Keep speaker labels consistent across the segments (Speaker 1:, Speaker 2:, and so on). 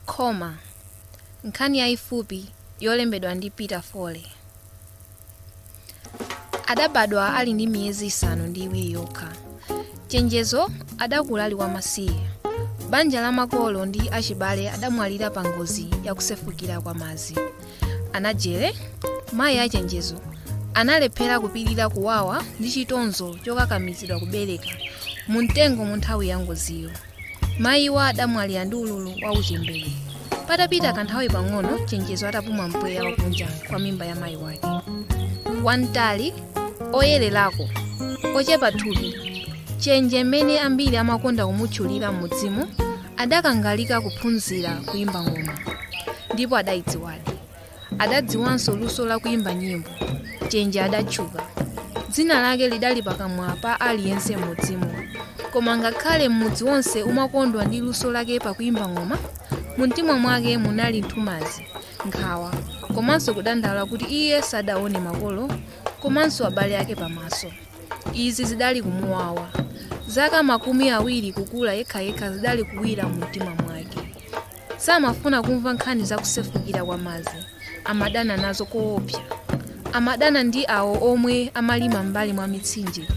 Speaker 1: Khoma, Nkhani yaifupi yolembedwa ndi Peter Foley. Adabadwa ali ndi miyezi isanu ndi iwiri yokha. Chenjezo adakula ali wamasiye. Banja la makolo ndi achibale adamwalira pa ngozi ya kusefukira kwa madzi. Anajere, mayi a Chenjezo, analephera kupirira kuwawa ndi chitonzo chokakamizidwa kubereka mu mtengo mu nthawi ya ngoziyo. mayiwa adamwalira ndi ululu wa uchembere patapita kanthawi pang'ono chenjezo atapuma mpweya wakunja kwa mimba ya mayi wake wamtali oyererako ochepa thupi chenje mmene ambiri amakonda kumutchulira m'mudzimu adakangalika kuphunzira kuyimba ng'oma ndipo adayidziwadi adadziwanso luso la kuimba nyimbo. Chenje adatchuka. Dzina lake lidali pakamwa pa aliyense m'mudzimo. Koma ngakhale m'mudzi wonse umakondwa ndi luso lake pakuimba ng'oma, mumtima mwake munali nthumazi, nkhawa, komanso kudandaula kuti iye sadaone makolo komanso abale ake pamaso. Izi zidali kumuwawa. Zaka makumi awiri kukula yekhayekha zidali kuwira mumtima mwake. Samafuna kumva nkhani za kusefukira kwa madzi. Amadana nazo koopsa. Amadana ndi awo omwe amalima m'mbali mwa mitsinje.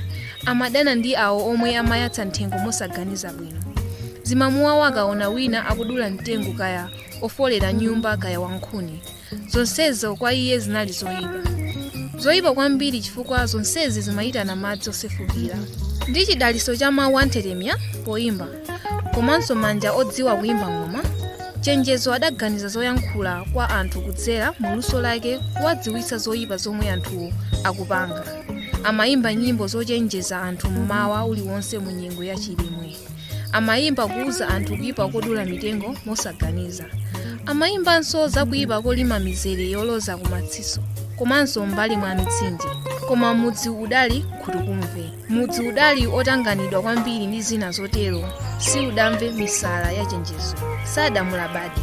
Speaker 1: Amadana ndi awo omwe amayatsa nthengo mosaganiza bwino. Zimamuwawa akaona wina akudula mtengo kaya ofolera nyumba kaya wankhuni. zonsezo kwa iye zinali zoyipa zoyipa kwambiri chifukwa zonsezi zimayitana madzi osefukira ndi chidalitso cha mawu anthetemya poyimba komanso manja odziwa kuyimba ng'oma chenjezo adaganiza zoyankhula kwa anthu kudzera mu luso lake kuwadziwitsa zoyipa zomwe anthuwo akupanga amayimba nyimbo zochenjeza anthu mmawa uliwonse mu nyengo ya chilimwe amayimba kuuza anthu kuyipa kodula mitengo mosaganiza amayimbanso za kuyipa kolima mizere yoloza kumatsitso komanso m'mbali mwa mitsinje koma mudzi udali nkhutukumve mudzi udali otanganidwa kwambiri ndi zina zotero siudamve misala ya chenjezo sadamulabadi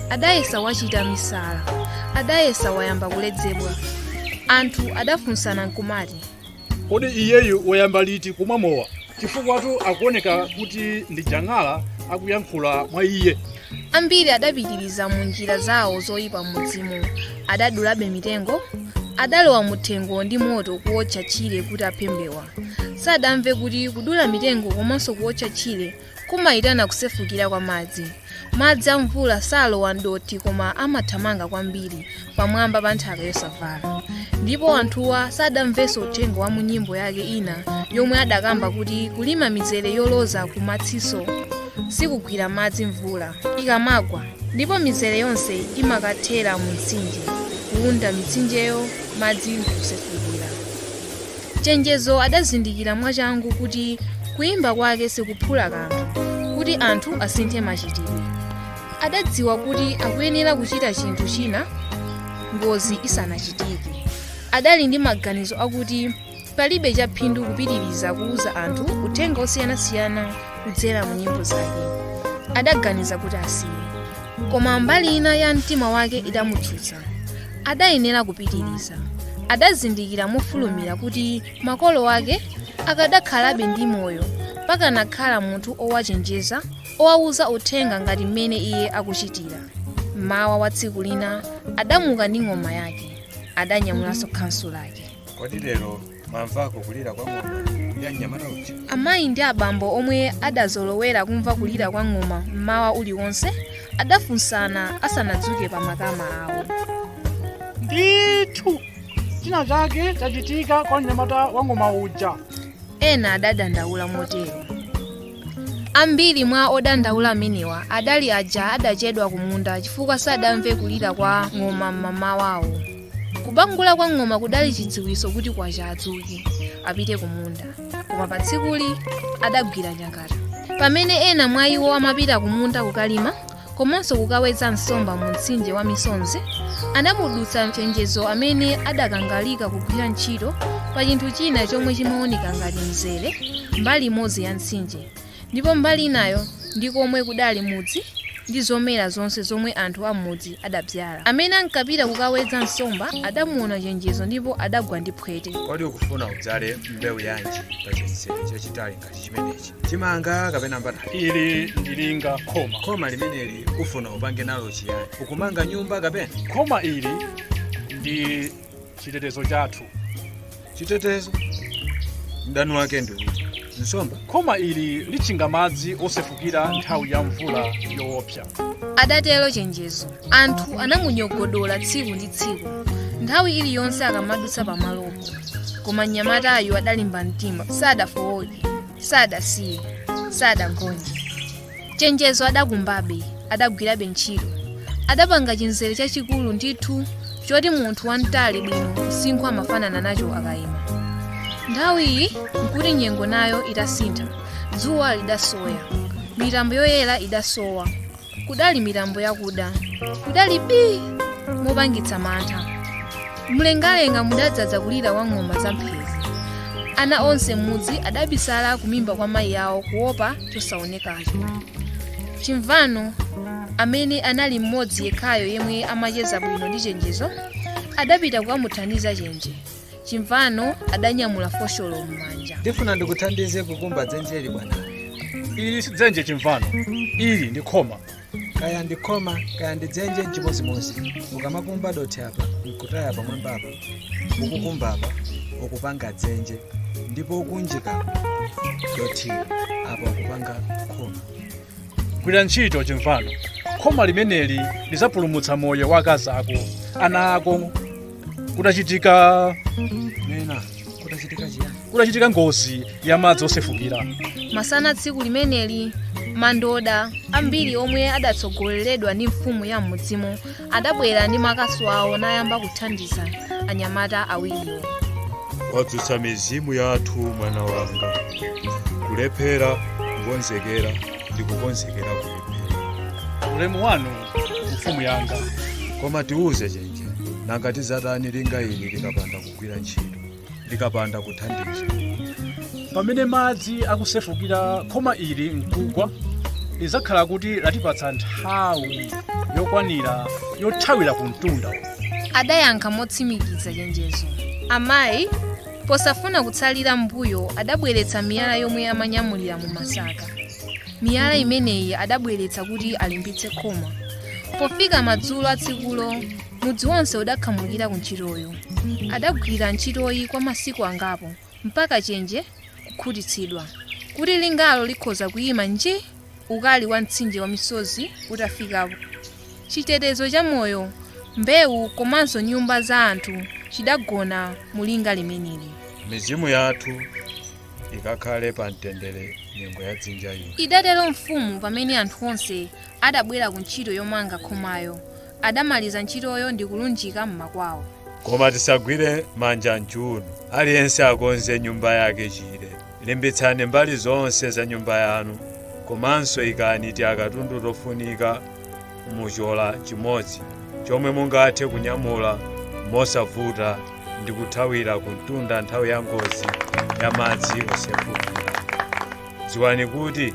Speaker 1: adayesa wachita misala adayesa wayamba kuledzera anthu adafunsana nkumati
Speaker 2: kodi iyeyu wayamba liti kumwa mowa chifukwatu akuoneka kuti ndi jang'ala akuyankhula mwa iye ambiri
Speaker 1: adapitiriza mu njira zawo zoyipa m'mudzimu adadulabe mitengo adalowa muthengo ndi moto kuwotcha tchire kuti aphe mbewa sadamve kuti kudula mitengo komanso kuwotcha tchire Kumaitana kusefukira kwa madzi. Madzi a mvula salowa m'dothi koma amathamanga kwambiri pamwamba pa nthaka yosavala. Ndipo anthuwa sadamvenso uthenga wa mu nyimbo yake ina yomwe adakamba kuti kulima mizere yoloza ku matsitso sikugwira madzi mvula ikamagwa ndipo mizere yonse imakathera mu mtsinje kuwunda mitsinjeyo madzi nkusefukira. Chenjezo adazindikira mwachangu kuti kuimba kwake sikuphula kanthu kuti anthu asinthe machitidwe. Adadziwa kuti akuyenera kuchita chinthu china ngozi isanachitike. Adali ndi maganizo akuti palibe chaphindu kupitiriza kuuza anthu uthenga osiyanasiyana kudzera mu nyimbo zake. Adaganiza kuti asiye. koma mbali ina ya mtima wake idamutsutsa adayenera kupitiriza adazindikira mofulumira kuti makolo ake akanakhalabe ndi moyo pakanakhala munthu owachenjeza owawuza uthenga ngati mmene iye akuchitira mmawa wa tsiku lina adamuka ndi ng'oma yake adanyamulanso khansu lake kodi lero
Speaker 3: mwamvako kulira kwa ng'oma ya mnyamata uja amayi ndi abambo
Speaker 1: omwe adazolowera kumva kulira kwa ng'oma mmawa uliwonse adafunsana asanadzuke pa makama awo ndithu
Speaker 2: china chake chachitika kwa mnyamata wa ng'oma uja ena
Speaker 1: adadandaula motero ambiri mwa odandaula amenewa adali aja adachedwa kumunda chifukwa sadamve kulira kwa ng'oma mmamawawo kubangula kwa ng'oma kudali chidziwitso kuti kwacha adzuke apite kumunda koma pa tsikuli adagwira nyakata pamene ena mwa iwo amapita kumunda kukalima komanso kukawedza nsomba mu mtsinje wa misonzi anamudutsa Chenjezo amene adakangalika kugwira ntchito pa chinthu china chomwe chimaoneka ngati mzere mbali imodzi ya mtsinje Ndipo mbali inayo ndi komwe kudali mudzi ndi zomera zonse zomwe anthu a m'mudzi adabzala. Amene ankapita kukawedza nsomba adamuona Chenjezo ndipo adagwa ndi phwete. Kodi ukufuna udzale
Speaker 3: mbewu yanji pa chintsere chachitali ngati chimenechi? Chimanga kapena mbatata? Ili ndi
Speaker 2: linga khoma. Khoma limeneli
Speaker 3: ufuna upange nalo chiyani? Ukumanga nyumba kapena? Khoma ili
Speaker 2: ndi chitetezo chathu chitetezo
Speaker 3: mdani wake ndi uti nsomba khoma ili
Speaker 2: litchinga madzi osefukira nthawi ya mvula yoopsa adatero
Speaker 1: chenjezo anthu anamunyogodola tsiku ndi tsiku nthawi iliyonse akamadutsa pamalopo koma mnyamatayu adalimba mtima sadafowoke sadasiye sadagonje chenjezo adakumbabe adagwirabe ntchito adapanga chinzere chachikulu ndithu choti munthu wamtali bwino msinkhu amafanana nacho akayima nthawi iyi nkuti nyengo nayo itasintha dzuwa lidasowa mitambo yoyera idasowa kudali mitambo yakuda kudali bii mopangitsa mantha mlengalenga mudadzaza kulira kwa ng'oma za mphezi ana onse m'mudzi adabisala kumimba kwa mayi awo kuopa chosaonekacho chimvano amene anali mmodzi yekhayo yemwe amacheza bwino ndi chenjezo adapita kukamuthandiza chenje chimvano adanyamula fosholo m'manja ndifuna
Speaker 3: ndikuthandize kukumba dzenjeli bwanawe ili si
Speaker 2: dzenje chimvano ili ndi khoma kaya
Speaker 3: ndi khoma kaya ndi dzenje nchimozimozi ukamakumba dothi apa nkutaya pamwamba apa ukukumba apa ukupanga dzenje ndipo ukuunjika dothi apa ukupanga khoma
Speaker 2: gwira ntchito chimvano khoma limeneli lidzapulumutsa moyo wa akazi ako ana ako kutachitika
Speaker 3: nena kutachitika chiyani kutachitika
Speaker 2: ngozi ya madzi osefukira masana
Speaker 1: tsiku limeneli madoda ambiri omwe adatsogoleredwa ndi mfumu ya m'mudzimo adabwera ndi makasu awo nayamba kuthandiza anyamata awiriwo
Speaker 4: wadzutsa mizimu yathu mwana wanga kulephera kukonzekera ndi kukonzekera kulephera ulemu wanu
Speaker 2: mfumu yanga koma tiuze
Speaker 3: chenje ija nanga tidzatani linga ili likapanda kugwira ntchito likapanda
Speaker 2: kuthandiza pamene madzi akusefukira khoma ili nkugwa lidzakhala kuti latipatsa nthawi yokwanira yothawira ku mtunda
Speaker 1: adayankha motsimikiza chenjezo amayi posafuna kutsalira mbuyo adabweretsa miyala yomwe amanyamulira mu masaka miyala imeneyi adabweretsa kuti alimbitse khoma pofika madzulo a tsikulo mudzi wonse udakhamukira ku ntchitoyo adagwira ntchitoyi kwa masiku angapo mpaka chenje kukhutitsidwa kuti lingalo likhoza kuyima nji ukali wa mtsinje wa misozi utafikapo chitetezo cha moyo mbewu komanso nyumba za anthu chidagona mu linga limeneli mizimu yathu
Speaker 3: ikakhale pa mtendere nyengo ya dzinja ino idatero
Speaker 1: mfumu pamene anthu onse adabwera ku ntchito yomanga khomayo adamaliza ntchitoyo ndi kulunjika m'makwawo koma
Speaker 4: tisagwire manja m'chiuno aliyense akonze nyumba yake chire limbitsani mbali zonse za nyumba yanu komanso ikani timakatundu tofunika muchola chimodzi chomwe mungathe kunyamula mosavuta ndi kuthawira kumtunda nthawi ya ngozi ya madzi osefukira dziwani kuti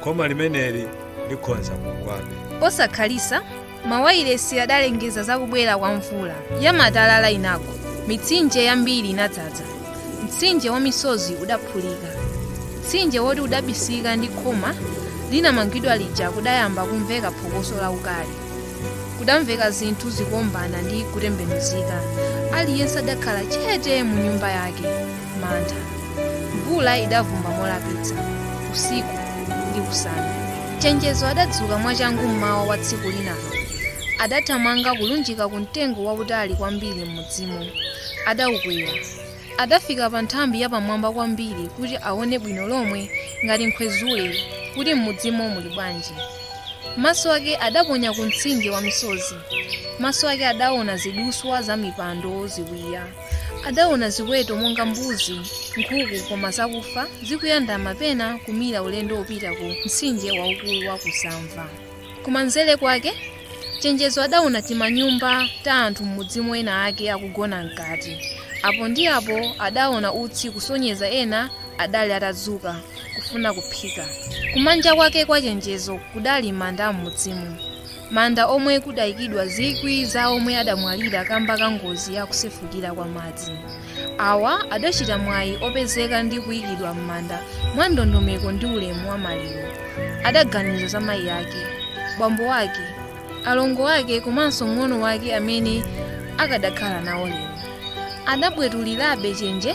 Speaker 4: khoma limeneli likhonza kugwabe
Speaker 1: posakhalitsa mawayilesi adalengeza za kubwera kwa mvula ya matalala inagwa mitsinje yambiri inadzaza Mtsinje wa misozi udaphulika. Mtsinje woti udabisika ndi khoma linamangidwa lija kudayamba kumveka phokoso laukali. Kudamveka zinthu zikuombana ndi kutembenuzika. Aliyense adakhala chete mu nyumba yake. Mantha. Mvula idavumba molapitsa. Usiku ndi usana. Chenjezo adadzuka mwachangu mmawa wa tsiku linalo. Adathamanga kulunjika ku mtengo wautali kwambiri m'mudzimo. adaukwera. Adafika pa nthambi yapamwamba kwambiri kuti aone bwino lomwe ngati Nkhwezule kuti m'mudzimo muli bwanji. Maso ake adaponya ku mtsinje wa misozi. Maso ake adaona ziduswa za mipando, ziwiya. Adaona ziweto monga mbuzi, nkhuku koma zakufa zikuyandama pena kumira ulendo wopita ku mtsinje waukulu wa Kusamva. Kumanzere kwake, Chenjezo adaona timanyumba ta anthu m'mudzimo ena ake akugona mkati. Apo ndi apo adaona utsi kusonyeza ena adali atadzuka kufuna kuphika. Kumanja kwake kwa Chenjezo kudali manda a m'mudzimo. Manda omwe kudaikidwa zikwi za omwe adamwalira kamba ka ngozi ya kusefukira kwa madzi. Awa adachita mwayi opezeka ndi kuikidwa m'manda mwa ndondomeko ndi ulemu wa maliro. Adaganiza za mayi ake, bambo wake, alongo ake komanso mng'ono wake amene akadakhala nawo lero. Adabwetulirabe chenje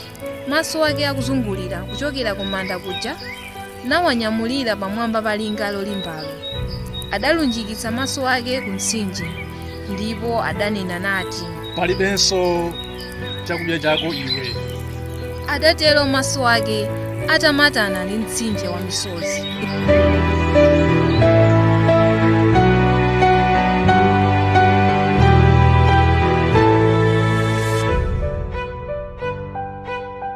Speaker 1: maso ake akuzungulira kuchokera kumanda kuja. nawanyamulira pamwamba pa linga lolimbalo. Adalunjikitsa maso ake ku mtsinje, ndipo adanena nati, palibenso
Speaker 2: chakudya chako iwe
Speaker 1: Adatero maso ake atamatana ndi mtsinje wa misozi.